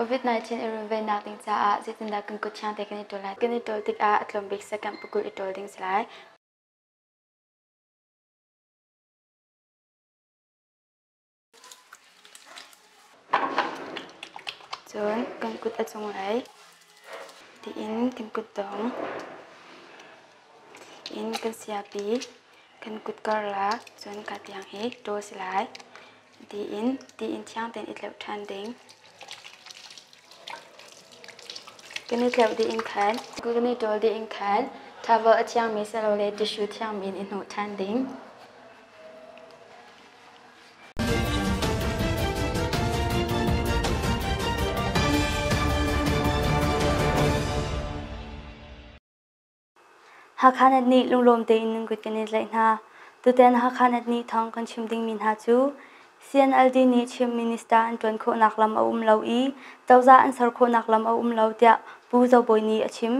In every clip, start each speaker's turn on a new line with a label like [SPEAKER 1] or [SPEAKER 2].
[SPEAKER 1] COVID-19 i runvennak ding caah zeitindah kan kuthiang te kan i ṭul lai? Kan i ṭul tikah a tlawmbik sekam pukul i ṭul ding si lai. Cun kan kut a cung ai tiin kan kut dong in kan siapi kan kut karlah cun kaa tiang hi ṭaw si lai tiin tiin thiang tein i tleuh ṭhan ding kan i tleuh dih in khan kan i ṭawl dih in khan towel a thiangmi silole tissue thiangmi in i hnawh ṭhan ding Hakha Net nih lunglawm tein nan kut kan i tlaih hna. Tutan Hakha Net nih thawng kan chim dingmi hna cu CNLD nih Chin Minister an ṭuan khawhnak lam a um lo i cozah an ser khawhnak lam a um lo tiah Pu Zo Bawi nih a chim.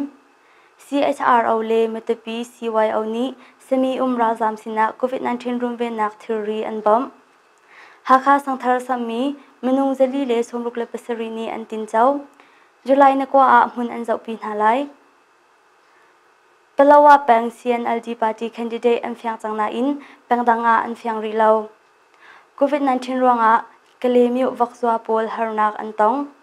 [SPEAKER 1] CHRO le Matupi CYO nih sami-um ralzaam sinah COVID-19 runvennak thilri an bawmh. Hakha Sangthar sammi minung zali le sawmruk le pasarih nih an tinco. July na kua ah hmun an zohpi hna lai. Palawa peng CNLD party candidate an fiang cang nain pengdang ah an fiang rih lo. COVID-19 ruangah Kalemyo vakzua pawl harnak an tong.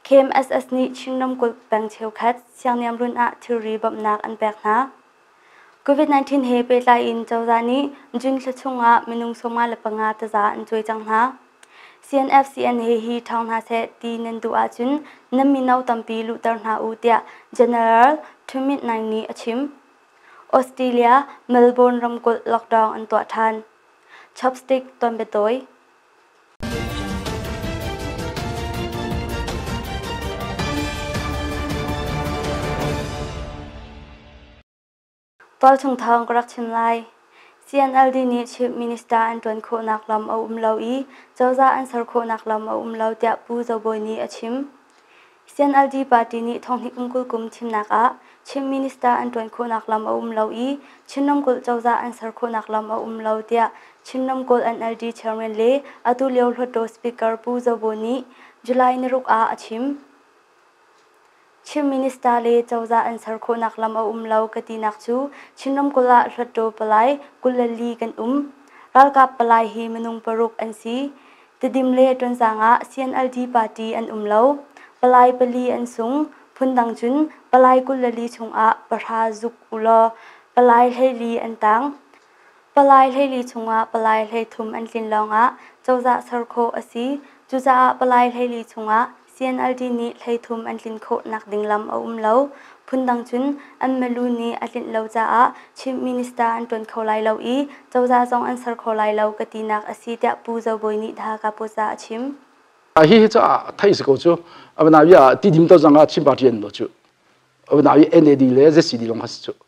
[SPEAKER 1] KMSS nih Chin ramkulh peng cheukhat siangniam run ah thilri bawmhnak an pek hna. COVID-19 he pehtlai in cozah nih June thla chung ah minung sawma le panga taza an cuai cang hna. CNFCN he hi ṭhang hna seh ti nan duh ahcun nan mino tampi luhter hna u tiah General Ṭhumit-naing nih a chim. Australia, Melbourne ramkulh lockdown an tuah ṭhan. Chopstick tonbiatawi. Tualchung thawng ka rak chim lai. CNLD nih Chief Minister an ṭuan khawhnak lam a um lo i cozah an ser khawhnak lam a um lo tiah Pu Zo Bawi nih a chim. CNLD party nih thonghnih kum kul kum thimnak ah Chin Minister an ṭuan khawhnak lam a um lo i Chin ramkulh cozah an ser khawhnak lam a um lo tiah Chin ramkulh NLD chairman le atu lio Hluttaw Speaker Pu Zo Bo nih July naruk ah a chim. Chin Minister le cozah an ser khawhnak lam a um lo ka tinak cu Chin ramkulh ah Hluttaw palai kul le li kan um. Ralkap palai hi minung paruk an si. Tedim le Tonzang ah CNLD party an um lo. Palai pali an sung. Phundang cun Palai kul le li chungah pahra zuk u law palai hleili an tang. Palai hleili chungah palai hlei thum an tlin lawngah cozah ser khawh a si. Cucaah palai hleili chungah CNLD nih hleithum an tlin khawhnak ding lam a um lo. Phundang cun an milu nih a tlinh lo caah Chief Minister an ṭuan kho lai lo i cozah zong an ser kho lai lo ka tinak a si tiah Pu Zo Bawi nih Tha Kapuasa a chim. Hihi caah
[SPEAKER 2] theih si ko cu Avinawi ah ti dim to zang ah Chin Party an no cu. Avinawi NAD le ZCD lawng has cu.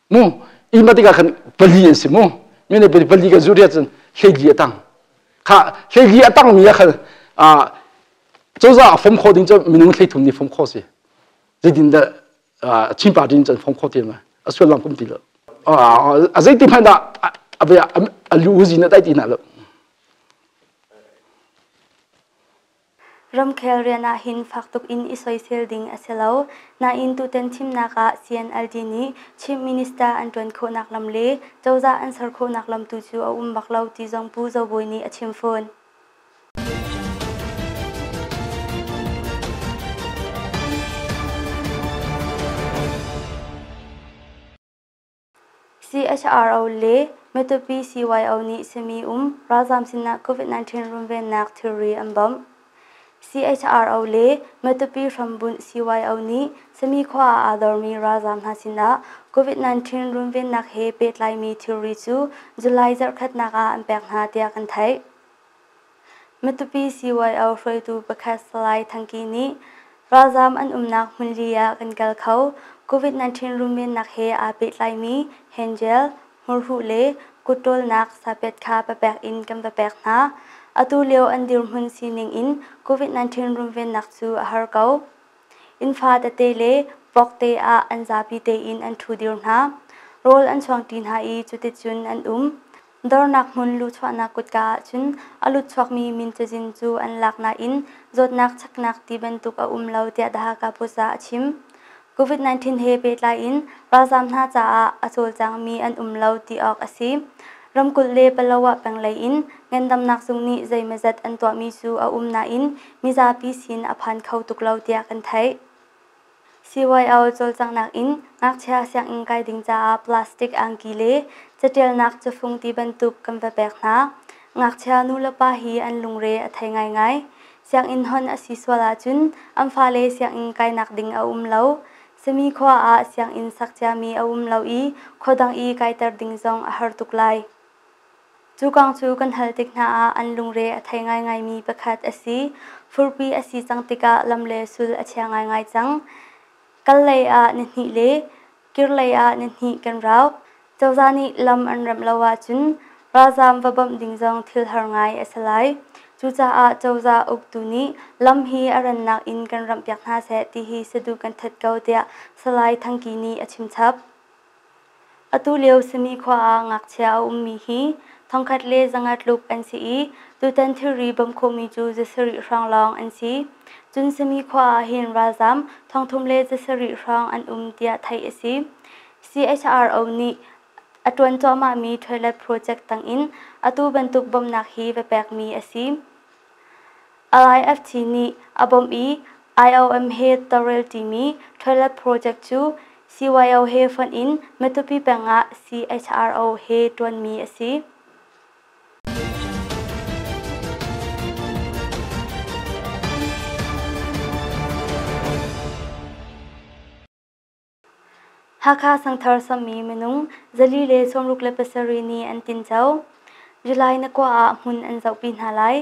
[SPEAKER 2] mu ima tikah khan pali an si mu mene pali pali kan zuriat cun hleili a tang kha hleili a tang mi a khal cozah fom kho ding cu minung thleithum ni fom kho si zeitin da chin party in cun fom kho tiam a sullam kum ti lo a zeiti hmanh dah a lu zin a tai ti na lo
[SPEAKER 1] Ramkhel rian ah hin fak tuk in i soisel ding a si lo. Nain tutan thimnak ah CNLD nih Chief Minister an ṭuan khawhnak lam le cozah an ser khawhnak lam tu cu a um bak lo ti zong Pu Zo Bawi nih a chim fawn. CHRO le Matupi CYO nih simi um ralzaam sinah COVID-19 runvennak thilri an bawmh. CHRO le Matupi hrambunh CYO nih sami khua ah aa dormi ralzaam hna sinah COVID-19 runvennak he pehtlaimi thilri cu July zarhkhatnak ah an pek hna tiah kan theih. Matupi CYO hruaitu pakhat Salai Thangki nih ralzaam an umnak hmun li ah kan kal kho COVID-19 runvennak he aa pehtlaimi hand gel, hmurhuh le kut ṭawlnak sapet kha va pek in kan va pek hna. Atu lio an dirhmun sining in COVID-19 runvennak cu a har ko. Innfa tete le vokte ah an zapi tein an ṭhu dir hna. Rawl an chuangṭi hna i cuticun an um. Dornak hmun luchuahnak kutka ahcun a lutchuakmi min cazin cu an lak nain zawtnak cheknak ti bantuk a um lo tiah The Hakha Post ah a chim. COVID-19 he pehtlai in ralzaam hna caah a cawlcangmi an um lo ti awk a si. Ramkulh le Palawa peng lei in ngandamnak zung nih zeimazat an tuahmi cu a um nain mizapi sin a phan kho tuk lo tiah kan theih. CYO cawlcanghnak in ngakchia sianginn kai ding caah plastic angki le catialnak cafung ti bantuk kan va pek hna. Ngakchia nu le pa hi an lungre a thei ngaingai. Sianginn hon a si sual ahcun an fale sianginn kainak ding a um lo. Sami khua ah sianginn sak ciami a um lo i khua dang i kaiter ding zong a har tuk lai. Cu kong cu kan hal tik hna ah an lungre a thei ngaingaimi pakhat a si. Furpi a si cang tikah lam le sul a chia ngaingai cang. Kal lei ah ni hnih le kir lei ah ni hnih kan rauk. Cozah nih lam an remh lo ahcun ralzaam va bawmh ding zong thil har ngai a si lai. Cucaah cozah uktu nih lam hi a rannak in kan ramhpiak hna seh ti hi saduh kan that ko tiah Salai Thangki nih a chimchap. Atulio Simikhua ah ngakchia a ummi hi thongkhat le zanga tluk an si i tutan thilri bawm khawhmi cu zasarih hrawng lawng an si. Cun Simikhua ah hin ralzam thongthum le zasarih hrawng an um tiah theih a si. CHRO nih a ṭuan cuahmahmi toilet project tangin atu bantuk bawmhnak hi va pekmi a si. IIFT nih a bawmh i IOM he tawlrel timi toilet project cu CYO he fonh in Matupi peng ah CHRO he ṭuanmi a si. Hakha Sangthar sammi minung zali le sawmruk le pasarih nih an tinco. July na kua ah hmun an zohpi hna lai.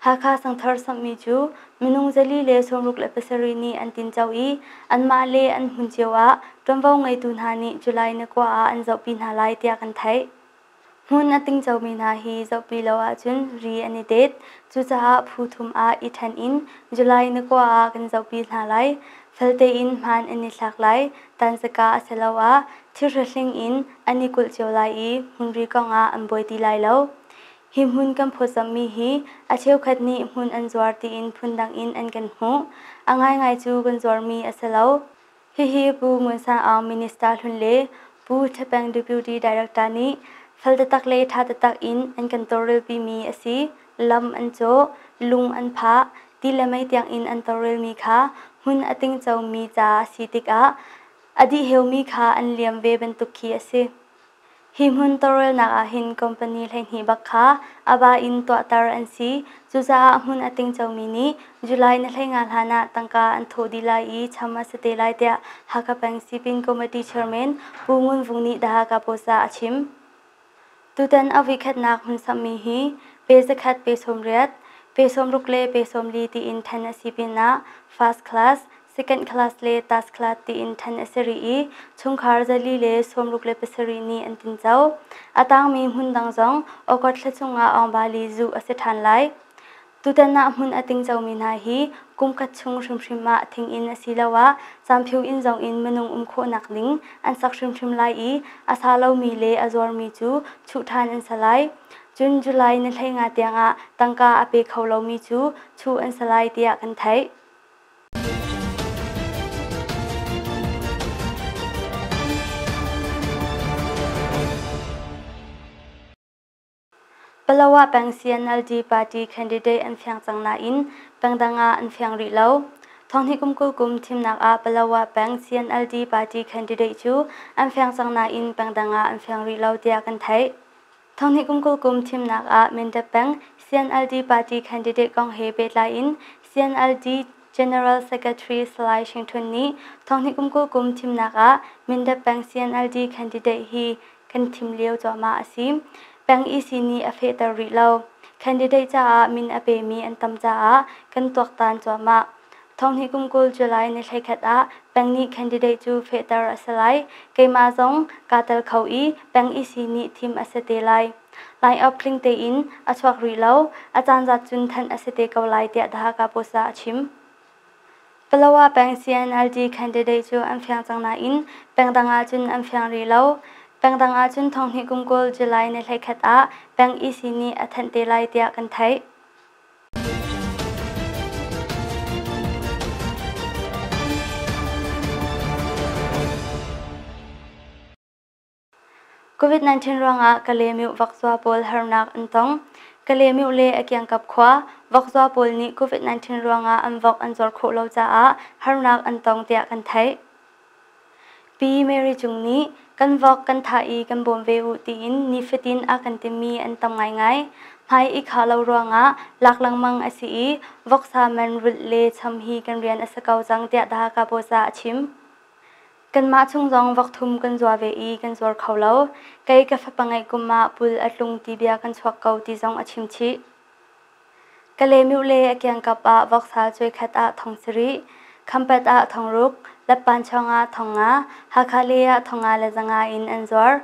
[SPEAKER 1] Hakha Sangthar sammi cu minung zali le sawmruk le pasarih nih an tinco i anmah le an hmun cio ah ṭuanvo ngeitu hna nih July na kua ah an zohpi hna lai tiah kan theih. Hmun a tingcomi hna hi zohpi lo ahcun ri an i tet. Cucaah phu thum ah i ṭhen in July na kua ah kan zohpi hna lai. Faltein hmaan an i thlak lai, tansaka asiloah thirhlohling in an i kulh cio lai i hmunri kong ah an buai ti lai lo. Hi hmun kan phawtzamhmi hi a cheukhat nih hmun an zuar tiin phundang in an kan hmuh. A ngaingai cu kan zuarmi a si lo. Hihi Pu Ngun San Aung Minister hlun le Pu Thapeng Deputy Director nih fal taktak le ṭha taktak in an kan tawlrelpimi a si. Lam an cawh, lung an phah, ti le mei tiangin an tawlrelmi kha hmun a tingcomi ca a si tikah a dihheumi kha an liam ve bantuk khi a si. Hi hmun tawlrelnak ah hin company hleihnih bak kha a ba in tuahter an si. Cucaah hmun a tingcomi nih July na hlei nga hlan ah tangka an thawh dih lai i cham a si te lai tiah Hakha Bank Sipin Committee Chairman Pu Ngun Vung nih The Hakha Post ah a chim. Tutan a vuikhatnak hmun samhmi hi pe zakhat pe sawm riat, pe sawm ruk le pe sawm li tiin ṭhen a si pinah first class, Second class le third class tiin ṭhen a si rih i chungkhar zali le sawmruk le pasarih nih an tinco. A tangmi hmun dang zong August thla chungah Aungvali zuh a si ṭhan lai. Tutan ah hmun a tingcomi hna hi kum khat chung hrimhrim ah thing inn asiloah camphiu inn zong in minung um khawhnak ding an sak hrimhrim lai i a sa lomi le a zuarmi cu chuh ṭhan an si lai. Cun July ni hleinga tiangah tangka a pe kho lomi cu chuh an si lai tiah kan theih. Palawa peng CNLD party candidate an fiang cang nain pengdang ah an fiang rih lo. Thonghni kum kul kum thimnak ah Palawa peng CNLD party candidate cu an fiang cang nain pengdang ah an fiang rih lo tiah kan theih. Thonghnih kum kul kum thimnak ah Mende peng CNLD party candidate kong he pehtlai in CNLD General Secretary Salai Shing Htun nih thonghnih kum kul kum thimnak ah Mende peng CNLD candidate hi kan thim lio cuahmah a si. Peng EC nih a fehter rih lo. Candidate caah min a pemi an tam caah kan tuaktan cuahmah. Thonghnih kum kul July ni thleikhat ah peng nih candidate cu fehter a si lai. Keimah zong kaa tel kho i peng EC nih thim a si te lai. Line-up tling tein a chuak rih lo. A caan zat cun thanh a si te ko lai tiah The Hakha Post ah a chim. Palawa peng CNLD candidate cu an fiang cang nain peng dang ah cun an fiang rih lo. Peng dang ah cun thonghnih kum kul July ni thleikhat ah peng EC nih a thanh te lai tiah kan theih. COVID-19 ruangah Kalemyo vakzua pawl harnak an tong. Kalemyo le a kiangkap khua vakzua pawl nih COVID-19 ruangah an vok an zawr khawh lo caah harnak an tong tiah kan theih. Pi Mary Cung nih kan vok kan thah i kan bawm ve u tiin nifatin a kan timmi an tam ngaingai. Hmai i khah lo ruangah lak lengmang a si i voksa man rulh le cham hi kan rian a si ko cang tiah The Hakha Post ah a chim. Kanmah chung zong vok thum kan zuar ve i kan zuar kho lo. Kei ka fapa ngeih kum ah pul a tlung ti bia kan chuak ko ti zong a chim chih. Ka lemeu le a kiangkap ah voksa cuekhat ah thong sarih, khampet ah thong ruk, leppanchuang ah thong nga, Hakha le ah thong nga le zanga in an zuar.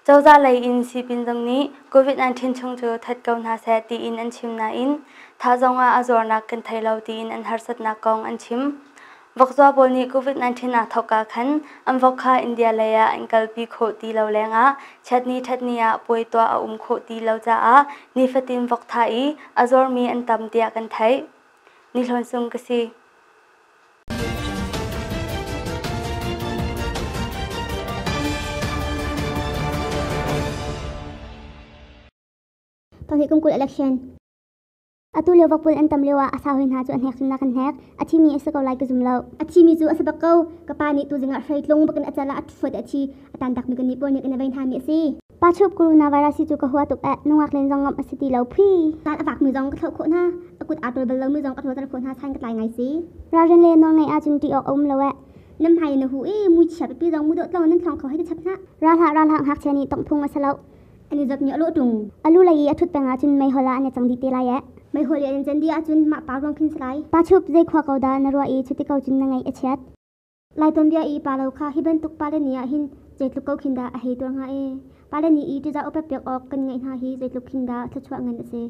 [SPEAKER 1] Cozah lei in sipin zong nih COVID-19 chung cu that ko hna seh tiin an chim nain thah zong ah a zuarnak kan thei lo tiin an harsatnak kong an chim. Vokzaw pawl nih COVID-19 ah thawk ah khan an vok kha India lei ah an kalpi khawh ti lo lengah ṭhatni ṭhatni ah puai tuah a um khawh ti lo caah nifatin vok tha i a zawrmi an tam tiah kan theih. Ni Hlawn Sung ka si.
[SPEAKER 3] Panghi kum kul election Atu lio vakpul an tam lio ah a sa hoi hna cu an hnek cun na kan hnek. A thimi a si ko lai ka zum lo. A thimi cu a si bak ko. Ka pa nih tu zingah hrei tlung bakin a cal ah a ṭhuat a thi. A tan dak mi kan nih pawl nih kan i vei hna mi a si. Pa chup coronavirus hi cu ka hua tuk eh. Nungak len zong ngam a si ti lo phi. Taan a vak mi zong ka thlo khawh hna. A kut aa ṭul bal lo mi zong ka hlawter khawh hna sain ka tlai ngai si. Ralrin le nawlngaih ah cun ṭih awk a um lo eh. Nam hai na hu i mui chia pipi zong mu dawh tlong nan thlong kho hei ti chap hna. Ralhah ralhah ngakchia nih tongh phung a si loh. Elizabeth nih a lawh tung. A lu lei i a thut peng ahcun meihol ah an i cang dih te lai ee. Meihol i an in can dih ahcun mah pa ruang khin si lai. Pa chup zei khua ko dah na ruah i cuti ko cun na ngaih a chiat. Lai tuanbia i pa lo kha hi bantuk pale ni ah hin zeitluk ko khin dah a hei tuar hnga ee. Pale ni i ṭiza upat piak awk kan ngaih hna hi zeitluk khin dah thluachuah ngan a si.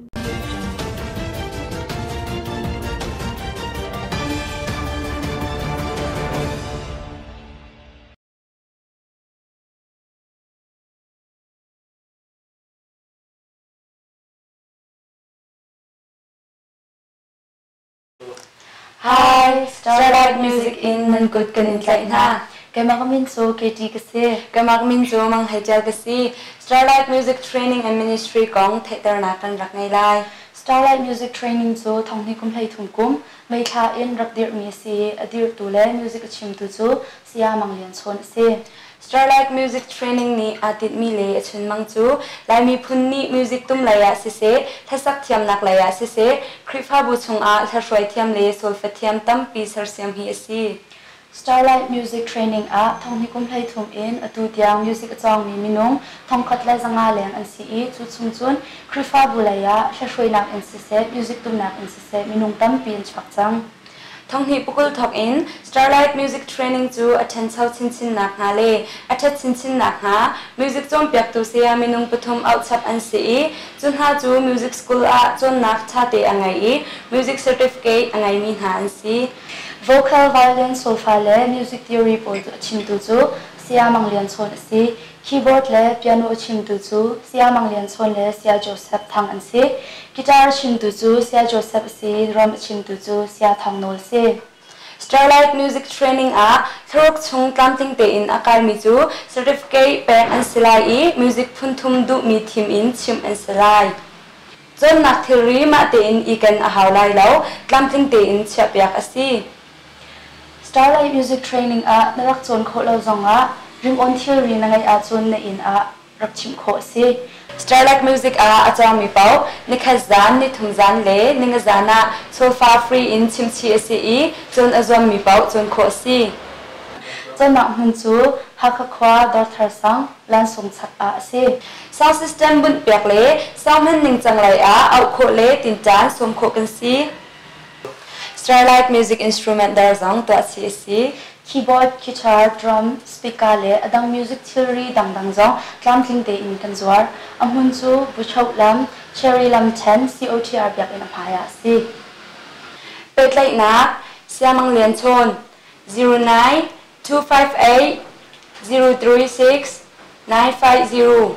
[SPEAKER 1] Hi, Starlight Music in nan kut kan in tlaih hna. Kemak min cu Katie ka si. Kemak min cu Mang
[SPEAKER 4] Hei Ṭial ka si. Starlight Music Training and Ministry kong theihternak kan rak ngei lai. Starlight Music
[SPEAKER 1] Training cu thonghni kum hleithum kum, meithla in rak dirhmi a si i a dirhtu le music a chimtu cu Saya Mang Lian Chawn a si. Starlight Music
[SPEAKER 4] Training nih aa tinhmi le a chunmang cu Lai miphun nih music tum lei ah siseh, hlasak thiamnak lei ah siseh, Khrihfabu chungah hlaihruai thiam le solfa thiam tampi sersiam hi a si. Starlight
[SPEAKER 1] Music Training ah thong hnih kum hleithum in atu tiang music a cawngmi minung thongkhat le zanga leng an si i cu chung cun Khrihfabu lei ah hlaihruainak in siseh, music tumnak in siseh minung tampi an chuak cang. Thonghnih pukul
[SPEAKER 4] thawk in Starlight Music Training cu a ṭhencho chinchin nakhnga le a ṭhet chinchin nakhnga music cawnpiaktu saya minung pathum auhchap an si i cu hna cu music school ah cawnnak ṭhate a ngei i music certificate a ngeimi hna an si. Vocal,
[SPEAKER 1] violin, solfa le music theory pawl cu a chimtu cu Saya Mang Lian Chawn a si. Keyboard le piano a chimtu cu Saya Mang Lian Chawn le Saya Joseph Thang an si. Guitar a chimtu cu Saya Joseph a si i drum a chimtu cu Saya Thang Nawl si. Starlight
[SPEAKER 4] Music Training ah thlaruk chung tlamtling tein a kalmi cu certificate pek an si lai i music phunthum duhmi thim in chimh an si lai. Cawnnak thilri mah tein iken a hau lai lo, tlamtling tein chiahpiak a si.
[SPEAKER 1] Starlight Music Training ah na rak cawn khawh lo zongah ringawn thilri na ngeih ahcun na inn ah rak chimh khawh a si. Starlight Music
[SPEAKER 4] ah a cawngmi paoh nikhat zan, nithum zan le ninga zan ah sofa free in chimchih a si i cun a zuammi paoh cawn khawh a si. Cawnnak
[SPEAKER 1] hmun cu Hakha khua Dawrthar sang, Lansung chak ah a si. Sound system
[SPEAKER 4] bunh piak le sound hman ningcang lei ah auh khawh le tinṭan sawm khawh kan si. Starlight music instrument dar zong tuah si a si. Keyboard, guitar,
[SPEAKER 1] drum, speaker le a dang music thilri dangdang zong tlamtling tein kan zuar. A hmun cu Buchoh lam, Cherry lam ṭhen COTR biakinn a hmai ah a si.
[SPEAKER 4] Pehtlaihnak Siamang Lianchawn 09 258 036 950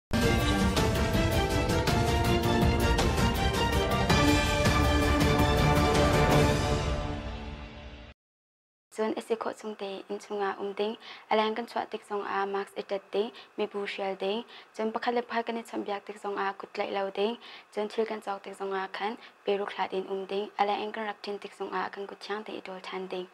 [SPEAKER 1] Cun a si khawh chung te inn chungah um ding, a leng kan chuah tik zongah mask i tat ding, mibu hrial ding, cun pakhat le pakhat kan i chawnhbiak tik zongah kut tlaih lo ding, cun thil kan cawk tik zongah khan pe ruk hlat in um ding, a leng in kan rak ṭin tik zongah kan kut thiang te i ṭawl ṭhan ding.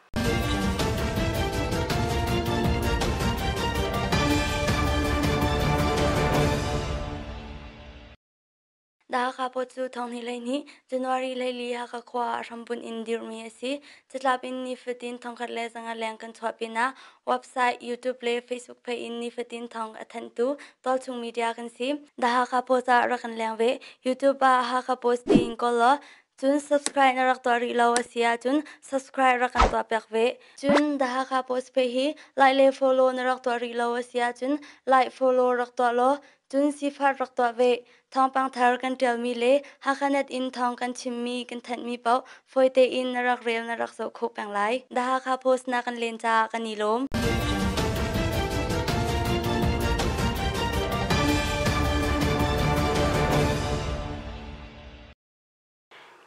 [SPEAKER 1] Hakha Post cu thonghni lei nih January leili Hakha khua ah hrambunh in dirhmi a si. Catlap in nifatin thongkhat le zanga leng kan chuah pinah website, YouTube le Facebook page in nifatin thong a thanhtu Tualchung Media kan si. The Hakha Post ah rak kan leng ve. YouTube ah Hakha Post tiin kawl law Cun subscribe na rak tuah rih lo a si ahcun subscribe rak kan tuah piak ve. Cun The Hakha Post page hi like le follow na rak tuah rih lo a si ahcun like follow rak tuah law cun sifat rak tuah ve. Thawngpang thar kan ṭialmi le Hakhanet in thawng kan chimmi kan thanhmi paoh fawi tein na rak rel na rak zoh khawh peng lai. The Hakha Post na kan len caah kan i lawm.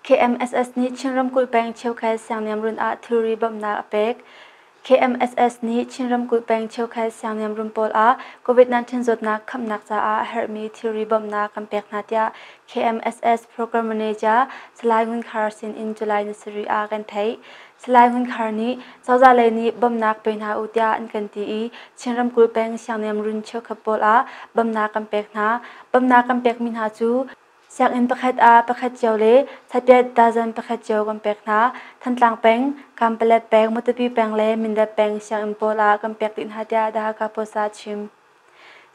[SPEAKER 1] KMSS nih Chin ramkulh peng cheukhat siangniamrun ah thilri bawmhnak a pek. KMSS nih Chin ramkulh peng cheukhat siangniamrun pawl ah COVID-19 zawtnak khamhnak caah a herhmi thilri bawmhnak kan pek hna tiah KMSS program manager Salai Ngun Khar sin in July ni sarih ah kan theih. Salai Ngun Khar nih cozah lei nih bawmhnak pe hna u tiah an kan ti i Chin ramkulh peng siangniamrun cheukhat pawl ah bawmhnak kan pek hna. Bawmhnak kan pekmi hna cu Sianginn pakhat ah pakhat cio le thlapiat dazen pakhat cio kan pek hna. Thantlang peng, Kampalet peng, Matupi peng le Mindat peng sianginn pawl ah kan pek dih hna tiah The Hakha Post ah a chim.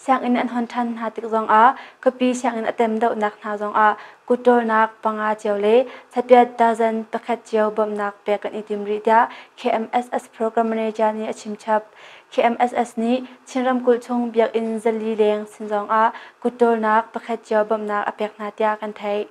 [SPEAKER 1] Sianginn an hon ṭhan hna tik zongah khuapi sianginn a tem dohnak hna zongah kutṭawlnak panga cio le thlapiat dazen pakhat cio bawmhnak pek kan i tim rih tiah KMSS program manager nih a chimchap. KMSS nih Chin ramkulh chung biakinn zali leng sin zongah kut tawlnak pakhat cio bawmhnak a pek hna tiah kan theih.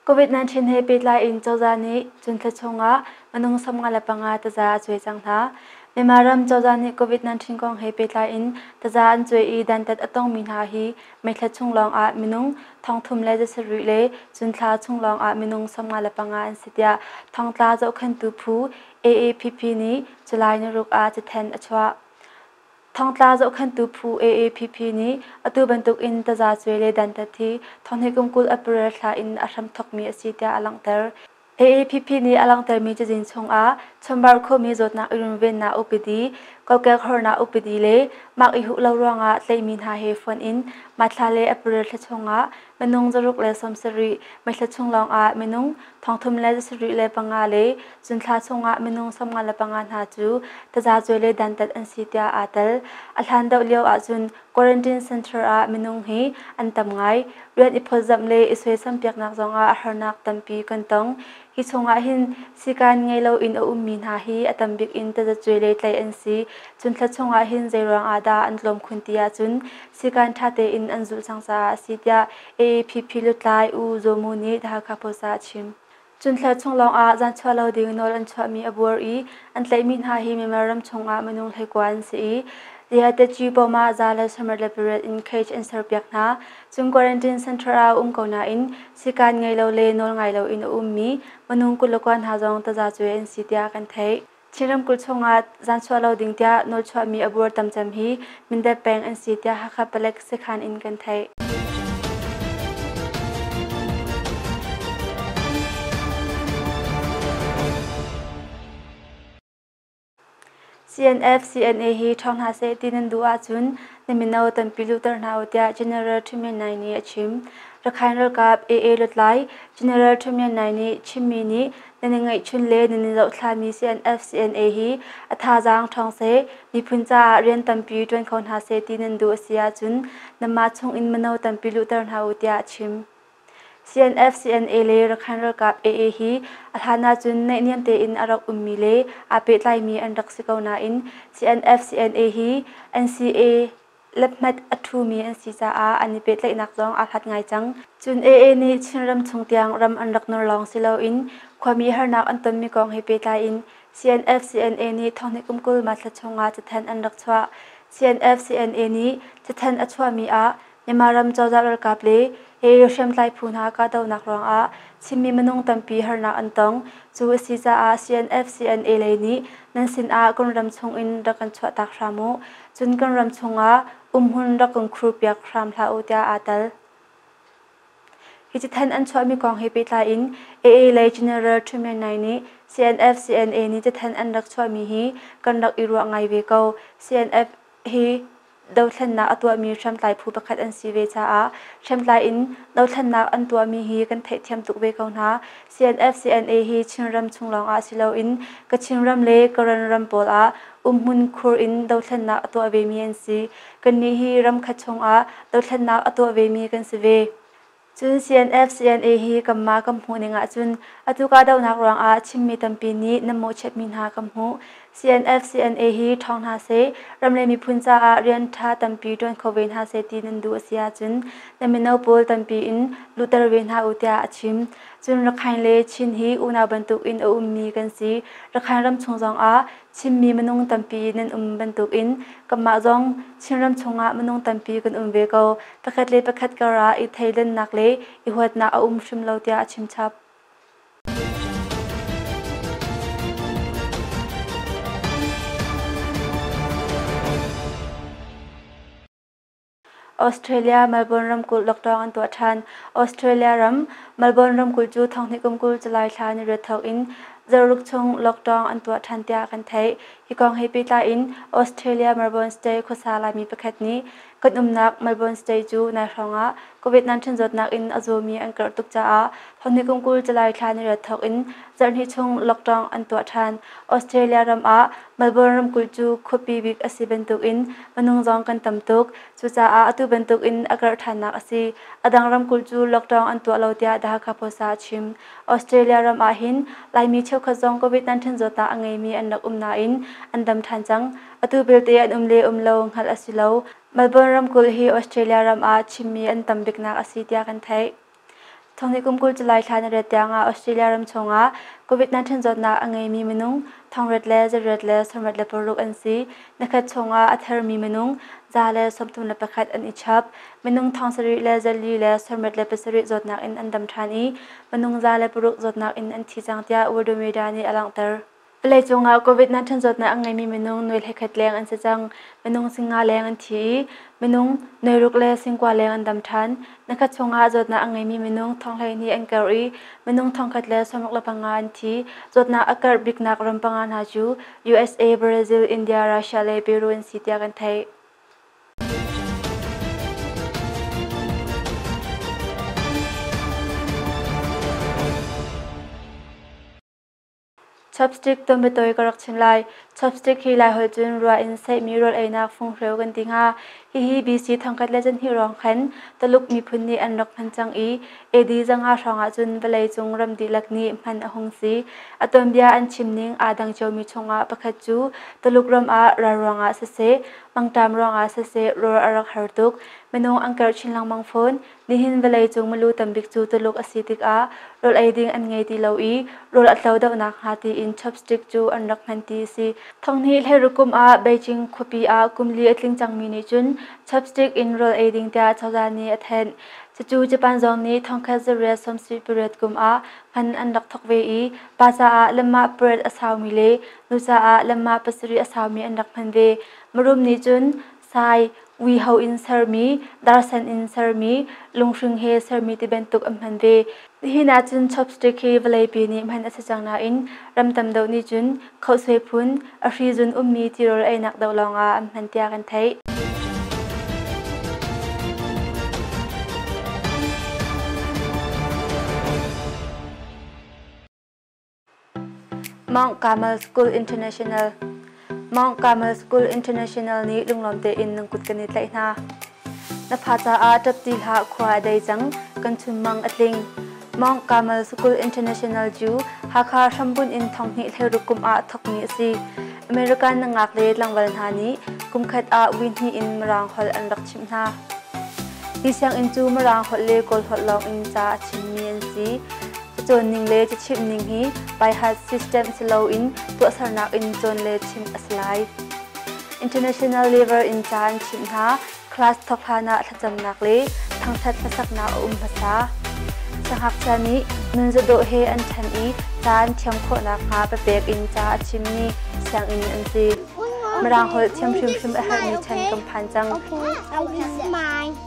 [SPEAKER 1] COVID-19 he pehtlai in cozah nih cun thla chungah minung samnga le panga taza a cuai cang hna. Myanmar ram cozah nih COVID-19 kong he pehtlai in taza an cuai i dantat a tongmi hna hi Meithla chung lawngah minung thongthum le zasarih le cunthla chung lawngah minung sawmnga le panga an si tiah thongtla zohkhentu phu AAPP nih July niruk ah cathanh a chuah. Thongtla zohkhentu phu AAPP nih atu bantukin tazacuai le dantat hi thonghlei kumkul a paral thla in a hram thokmi a si tiah a langhter. AAPP nih a langhtermi cazin chungah chumbar khomi zawtnak i runvennak upadi, kokek hornak upadi le mak i huh lo ruangah tleihmi hna he fonh in mahthla le april thla chungah minung zaruk le sawmsarih, mithla chung lawngah minung thongthum le zasarih le panga le zunthla chungah minung sawmnga le panga hna cu tazacuai le dantat an si tiah aa tel. A hlan deuh lio ahcun Quarantine Center ah minung hi an tam ngai. Rian i phawtzamh le i suaisan piaknak zongah a harnak tampi kan tong. Hi chungah hin sikan ngei loin a ummi hna hi a tam bik in tazacuai le tlaih an si. Cun thla chungah hin zeiruang ah dah an tlawm khun ti ahcun sikan ṭha tein an zulh cang caah a si tiah AAPP lutlai U Zaw Mu nih The Hakha Post ah a chim. Cunthla chung lawngah zan chuah lo ding nawl an chuahmi a buar i an tlaihmi hna hi Myanmar ram chungah minung hleikua an si i Dehatechy Poma za le sawmrat le pariat in cage an serpiak hna. Cung quarantine center ah um ko nain sikan ngei lo le nawl ngai loin a ummi minung kul le kua hna zong taza cuai an si tiah kan theih. Chin ramkulh chungah zan chuah lo ding tiah nawlchuahmi a buar tam cem hi Mindat peng an si tiah Hakha Palek sekhan in kan theih. CNF CNA hi ṭhawng hna seh ti nan duh ahcun na mino tampi luhter hna u tiah General Ṭhu Mien Nai nih a chim. Rakhine ralkap AA lutlai General Ṭhu Mien Nai nih chimmi nih Nan i ngeihchun le nan i zohtlami CNF, CNA hi a thazaang ṭhawng seh, miphun caah rian tampi ṭuan kho hna seh ti nan duh a si ahcun nanmah chungin mino tampi luhter hna u tiah a chim. CNF, CNA le Rakhine ralkap AA hi a hlan ahcun naihniam tein a rak ummi le aa pehtlaimi an rak si ko nain CNF, CNA hi NCA Laphmat a ṭhumi an si caah an i pehtlaihnak zong aa hlat ngai cang. Cun AA nih Chinram chung tiang ram an rak nur lawng si loin khuami harnak an tonmi kong he pehtlai in CNF-CNA nih thonghnih kum kul March thla chungah cathanh an rak chuah. CNF-CNA nih cathanh a chuahmi ah Myanmar ram cozah ralkap le AA hriamtlai phu hna kahdohnak ruangah Chinmi minung tampi harnak an tong. Cu a si caah CNF-CNA lei nih nan sinah Kunram chung in rak kan chuahtak hram u. Cun kan ram chungah umhun rak kan khurpiak hram hlah u tiah aa tal. Hi cithan an chuahmi kong he pehtlai in AA lei General Truman Ngai nih CNF CNA nih cithan an rak chuahmi hi kan rak i ruah ngai ve ko. CNF hi dothlennak a tuahmi hriamtlai phu pakhat an si ve caah hriamtlai in dothlennak an tuahmi hi kan theihthiam tuk ve ko hna. CNF-CNA hi Chinram chung lawngah si loin Kachin ram le Karen ram pawl ah umhmun khur in dothlennak a tuah vemi an si. Kannih hi ramkhat chungah dothlennak a tuah vemi kan si ve. Cun CNF-CNA hi kanmah kan hmuhning ahcun atu kahdohnak ruangah Chinmi tampi nih nan mawhchiatmi hna kan hmuh. CNF-CNA hi ṭhawng hna seh, ram le miphun caah rian ṭha tampi ṭuan kho ve hna seh ti nan duh a si ahcun na mino pawl tampi in lutter ve hna u tiah a chim. Cun Rakhine le Chin hi unau bantuk in a ummi kan si. Rakhine ram chung zongah Chinmi minung tampi nan um bantukin kanmah zong Chin ram chungah minung tampi kan um ve ko. Pakhat le pakhat karah i theidannak le i huatnak a um hrim lo tiah a chim chap. Australia Melbourne ramkulh lockdown an tuah ṭhan. Australia ram Melbourne ramkulh cu thonghnih kum kul July thla ni riat thawk in zaruk chung lockdown an tuah ṭhan tiah kan theih. Hi kong he pehtlai in Australia Melbourne Stay khuasa Laimi pakhat nih Kan umnak Melbourne State cu nai hrawng ah COVID-19 zawtnak in a zawmi an karh tuk caah honni kum kul July thla ni rat thawk in zarhhnih chung lockdown an tuah ṭhan. Australia ram ah Melbourne ramkulh cu khuapi bik a si bantuk in minung zong kan tam tuk. Cucaah atu bantuk in a karh ṭhannak a si. A dang ramkulh cu lockdown an tuah lo tiah The Hakha Post ah a chim. Australia ram ah hin Laimi cheukhat zong COVID-19 zawtnak a ngeimi an rak um nain an dam ṭhan cang. Atu belte an um le um lo hngalh a si lo. Melbourne ramkulh hi Australia ram ah chimmi an tam biknak a si tiah kan theih. Thawngni kum kul July thla na ret tiangah Australia ram chungah COVID-19 zawtnak a ngeimi minung thongret le zarret le sawmret le paruk an si. Nakhat chungah a thermi minung za le sawmthum le pakhat an i chap. Minung thong sarih le zarli le sawmret le pasarih zawtnak in an dam ṭhan i minung za le paruk zawtnak in an thi cang tiah World Media nih a langhter. Palei cungah COVID-19 zawtnak a ngeimi minung nuai hlekhat leng an si cang. Minung singa leng an thi i minung nuai ruk le singkua leng an dam ṭhan. Nakhat chungah zawtnak a ngeimi minung thong hleihnih an karh i minung thongkhat le sawmuk le panga an thi. Zawtnak a karh biknak ram panga hna cu USA, Brazil, India, Russia le Peru an si tiah kan theih. Chapstick tumatawi ka rak chim lai. Chapstick hi Laiholh cun rua in seihmi rawl einak funghreu kan ti hnga. Hihi BC thangkhat le canhnih hrawng khan Tuluk miphun nih an rak hman cang i AD zanga hrawng ahcun vawleicung ram dihlak nih hman a hung si. A tuanbia an chimning aa dang ciomi chungah pakhat cu Tuluk ram ah ral ruangah siseh, mangṭam ruangah siseh rawl a rak har tuk. Minung an karh chin lengmang fawn. Nihin vawleicung milu tambik cu Tuluk a si tikah rawl ei ding an ngei ti lo i rawl a tlo deuh nakhnga tiin chopstick cu an rak hman ti a si. Thonghnih hleiriu kum ah Beijing khuapi ah kum li a tling cangmi nih cun chopstick in rawl ei ding tiah cozah nih a thenh. Cucu Japan zong nih thongkhat zarriat sawmsih pariat kum ah hman an rak thawk ve i pa caah lamah pariat a saumi le nu caah lamah pasarih a saumi an rak hman ve. Marum nih cun Sai, uiho in sermi, darsen in sermi, lunghring he sermi ti bantuk an hman ve. Hihin ahcun chopstick hi vawleipi nih hman a si cang nain ram tam deuh nih cun khosue phun, a hrizun ummi tirawl einak doh lawngah an hman tiah kan theih. Mount Carmel School International Mount Carmel School International nih lunglawm tein nan kut kan i tlaih hna. Na fa caah ṭapti hlah khua a dei cang, kan chunmang a tling. Mount Carmel School International cu Hakha hrambunh in thonghnih thleiruk kum ah thawkmi a si. American na ngak le tlangval hna nih kumkhat ah win hnih in Mirang holh an rak chimh hna. Hi sianginn cu Mirang holh le Kawl holh lawng in ca a chimmi an si. cawnning le cachimhning hi by-heart system si loin tuahsernak in cawn le chimh a si lai. International Lever in caan chimh hna, class thawk hlanah thlacamnak le thangṭhat hlasaknak a um hmasa. Sangakchia nih nunzadawh he an ṭhen i caan thiam khawh nakhnga papek in ca a chimmi sianginn an si. Mirang holh thiam hrimhrim a herhmi ṭhen kan phan cang. Okay, I will
[SPEAKER 3] smile.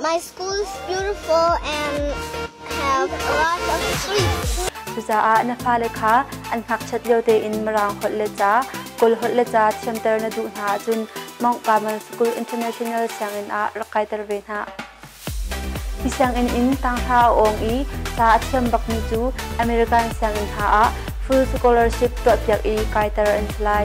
[SPEAKER 3] My school is beautiful and have a lot of sleep. Cucaah na
[SPEAKER 1] fale kha an ngakchiat lio tein Mirang holh le ca, Kawl holh le ca thiamter na duh hna ahcun Mount Carmel School International sianginn ah rak kaiter ve hna. Hi sianginn in tanghra a awng i ca a thiam bakmi cu American sianginn hna ah full scholarship tuahpiak i kaiter an si lai.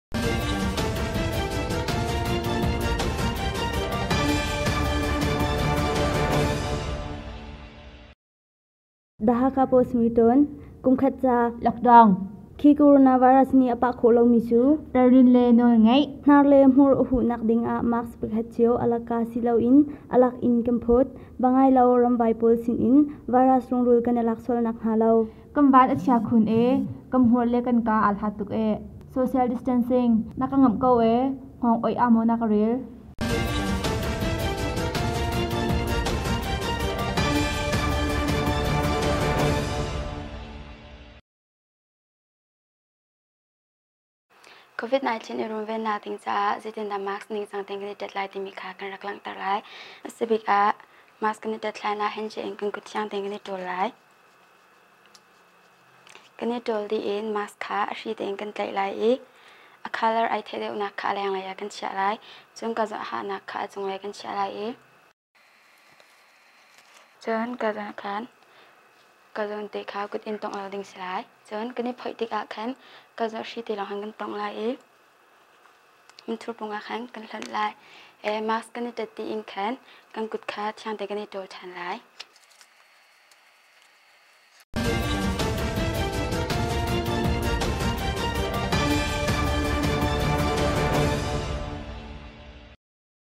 [SPEAKER 1] Dhaka Postmortem kumkhat ca lockdown
[SPEAKER 5] khi coronavirus
[SPEAKER 1] ni a pah khawh lomi cu tarin le nawl
[SPEAKER 5] ngeih hnar le hmur a huh
[SPEAKER 1] nak ding ah mask pakhat cio alaka si loin alak in kan phut bangai lo ramvai pawl sin in virus rungrul kan alak sual nak hnga lo Kan van a chia khun
[SPEAKER 5] e, kan hmur le kan kaa aa hlat tuk e. Social distancing na ka ngamh ko e, hngawng oih ah maw na ka rel?
[SPEAKER 1] COVID-19 i runvennak ding caah zeitindah mask ningcang tein kan i tet lai timi kha kan rak langhter lai. A si bik ah mask kan i tet hlan ah hand in kan kut thiang tein kan i ṭawl lai. Kan i ṭawl dih in mask kha a hri tein kan tlaih lai i a colour ai theh deuhnak kha a lenglei ah kan chiah lai. Cun ka zawhahnak kha a cunglei kan chiah lai i Cun ka zan khan ka zawn te kha kut in tongh lo ding si lai. Cun kan i phoih tikah khan ka zawnhri te lawng khan kan tongh lai i mithurpung ah khan kan hlonh lai i mask kan i tat tiin khan kan kut kha thiang te kan i ṭawl ṭhan lai.